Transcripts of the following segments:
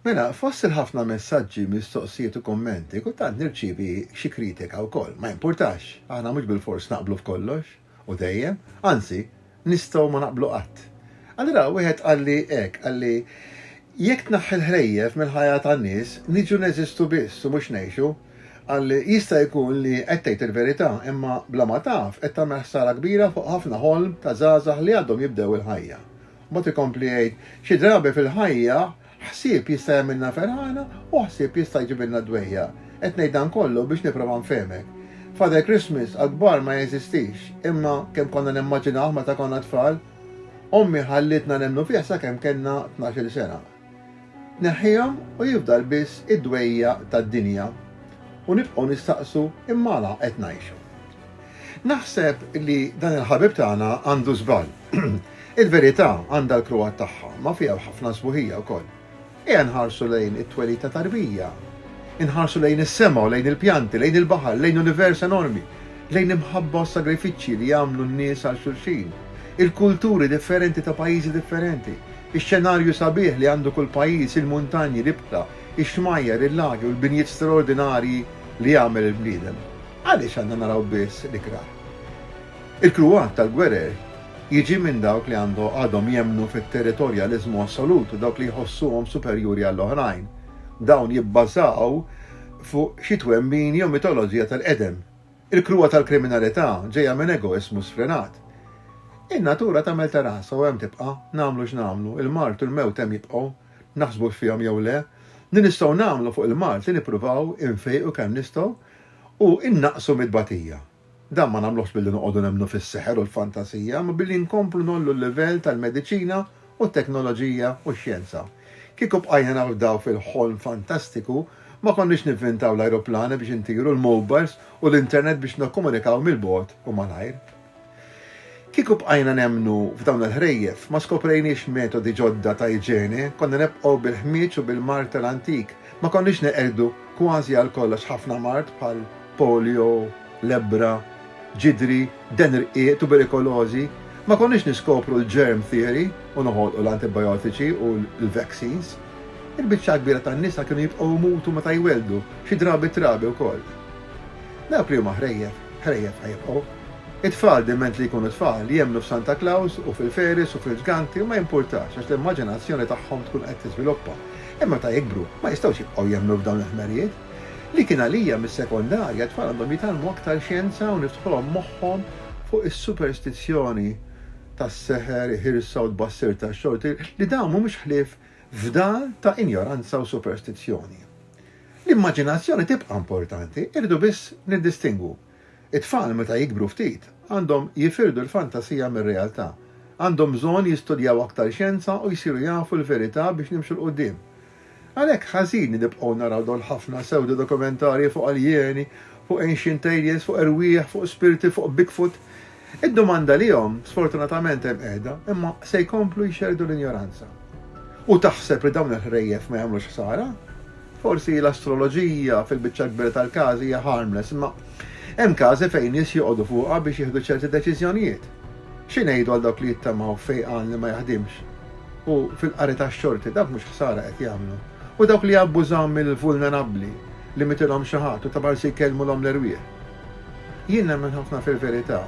Mela, fost il-ħafna messaġġi, mistoqsijiet u kummenti, kultant nirċievi xi kritika wkoll. Ma jimpurtax, aħna mhux bilfors naqblu f'kollox u dejjem, anzi, nistgħu ma naqblu qatt. Allura wieħed qalli hekk, qalli, Jekk tneħħi l-ħrejjef mill-ħajja tan-nies, niġu neżistu biss u mhux ngħixu. Qalli, Jista' jkun li qed tgħid il-verità, imma bla ma taf qed tagħmel ħsara kbira fuq ħafna ħolm ta' żgħażagħ li għadhom jibdew il-ħajja. Mbagħad ikompli jgħid, Xi drabi fil-ħajja, ħsieb jista' jagħmilna ferħana u ħsieb jista' jġibilna d-dwejjaq. Qed ngħid dan kollu biex nipprova nfehmek. Father Christmas għall-kbar ma jeżistix, imma kemm konna nimmaġinawh meta konna tfal. Ommi ħallietna nemmnu fih sakemm kellna tnax-il sena. Neħħihom u jifdal biss id-dwejjaq tad-dinja u nibqgħu nistaqsu imma għala qed ngħixu. Naħseb li dan il-ħabib tagħna għandu żball. Il-verità għandha l-kruhat tagħha, ma fiha ħafna sbuħija wkoll. Ejja nħarsu lejn it-twelid ta' tarbija, inħarsu lejn is-sema u lejn il-pjanti, lejn il-baħar, lejn univers enormi, lejn imħabba u sagrifiċċji li jagħmlu n-nies għal xulxin, il-kulturi differenti ta' pajjiżi differenti, Ix-xenarju sabiħ li għandu kull pajjiż, il-muntanji, l-ibħra, ix-xmajjar, il-lagi u l-binjiet straordinarji li għamel il-bniedem, għaliex għandna naraw biss l-ikrah? Il-kruat tal-gwerer jiġi minn dawk li għadhom jemmnu fit-territorjaliżmu assolut u dawk li jħossuhom superjuri għall-oħrajn. Dawn jibbażaw fuq xi twemmin jew mitoloġija tal-qedem. Il-kruha tal-kriminalità ġejja minn egoiżmu sfrenat. In-natura tagħmel ta' rasha u hemm tibqa', nagħmlu x'nagħmlu, il-mard u l-mewt hemm jibqgħu, naħsbux fihom jew le. Li nistgħu nagħmlu fuq il-mard li nippruvaw infejqu kemm nistgħu u nnaqqsu mit-tbatija. Dan ma nagħmluhx billi noqogħdu nemmnu fis-seħer u l-fantasija, imma billi nkomplu ngħollu l-livell tal-mediċina u t-teknoloġija u x-xjenza. Kieku bqajna nafdaw fil-ħolm fantastiku, ma konniex nivvintaw l-ajruplani biex intiru, l-mowbajls u l-internet biex nikkomunikaw mill-bogħod u malajr. Kieku bqajna nemmnu f'dawn il-ħrejjef, ma skoprejniex metodi ġodda ta' iġene, konna nibqgħu bil-ħmieġ u bil-mar tal-antik, Ma konniex neqirdu kważi għal kollox ħafna mard bħal polio, lebbra, ġidri, deher rqiq, tuberikolożi. Ma konniex niskopru l-germ theory u noħolqu l-antibiotiċi u l-vaccines. Il-biċċa l-kbira tan-nisa kienu jibqgħu jmutu meta jwelldu, xi drabi t-trabi wkoll. Dawk li huma ħrejjef, ħrejjef ħajibqgħu. It-tfal diment li jkunu tfal jemmnu f'Santa Claus u fil-fairies u fil-ġganti u ma jimpurtax għax l-immaġinazzjoni tagħhom tkun qed tiżviluppa. Imma meta jikbru, ma jistgħux jibqgħu jemmnu f'dawn il-ħmerijiet. Li kien għalija mis-sekondarja, t-tfal għandhom jitgħallmu aktar xjenza u niftħulhom moħħhom fuq is-superstizzjoni tas-seħer, iħirsa u tbassir tax-xorti, li dawn mhumiex ħlief fdal ta' injoranza u superstizzjoni. L-immaġinazzjoni tibqa' importanti, irridu biss niddistingwu. It-tfal meta jikbru ftit għandhom jifirdu l-fantasija mir-realtà. Għandhom bżonn jistudjaw aktar xjenza u jsiru jafu l-verità biex nimxu 'l quddiem. Għalhekk ħażin li nibqgħu naraw dawn l-ħafna sewdo-dokumentarji fuq aljeni, fuq ancient aliens, fuq erwieħ, fuq spirti, fuq bigfoot. Id-domanda lihom sfortunatament hemm qiegħda imma se jkomplu jxerrdu l-injoranza. U taħseb li dawn il-ħrejjef ma jagħmlux ħsara? Forsi l-astroloġija fil-biċċa l-kbira tal-każi hija harmless imma hemm każi fejn nies joqogħdu fuqha biex jieħdu ċerti deċiżjonijiet. Xi ngħidu għal dawk li jittamaw f'fejqan li ma jaħdimx u fil-qari tax-xorti dawk mhux ħsara qed jagħmlu? U dawk li jabbużaw mill-vulnerabbli li mitilhom xi ħadd u ta' malsi jkellmulhom l-erwieħ? Jien nemmen ħafna fil-verità,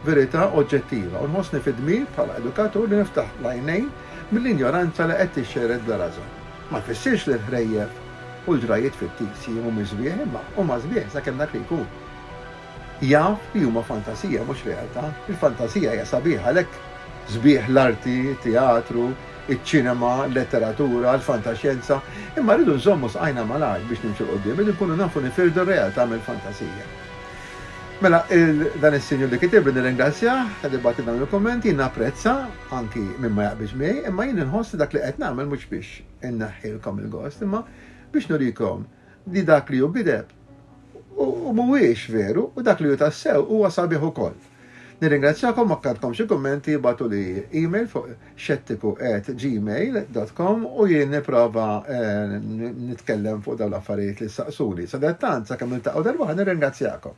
verità oġġettiva, u nħossni fid-dmir bħala edukatur li niftaħ l-għajnejn mill-injoranza li qed tixxerred bla rażan. Ma jfissirx li l-ħrejjef u l-ġrajjiet fittizji mhumiex sbieħ, imma huma sbieħ sakemm dak li jkun jaf li huma fantasija mhux realtà. Il-fantasija hija sabiħa, għalhekk sbieħ l-arti, it-teatru, iċ-ċinema, l-letteratura, l-fantaxjenza, imma rridu nżommu saqajna malajr biex nimxu 'l quddiem, rridu nkunu nafu nifirdu r-realtà mill-fantasija. Mela, dan is-sinjur li kitibli nirringrazzjah talli bagħatli dawn il-kummenti, jien napprezza anki min ma jaqbilx miegħi, imma jien inħoss li dak li qed nagħmel mhux biex inneħħilkom il-gost, imma biex nurikom li dak li hu gideb hu mhuwiex veru u dak li hu tassew huwa sabiħ ukoll. Nirringrazzjakom u jekk għandkom xi kummenti ibgħatuli email fuq xettiku at gmail dot com u jien nipprova nitkellem fuq dawn l-affarijiet li ssaqsuni. Sadattant sakemm niltaqgħu darb'oħra nirringrazzjakom.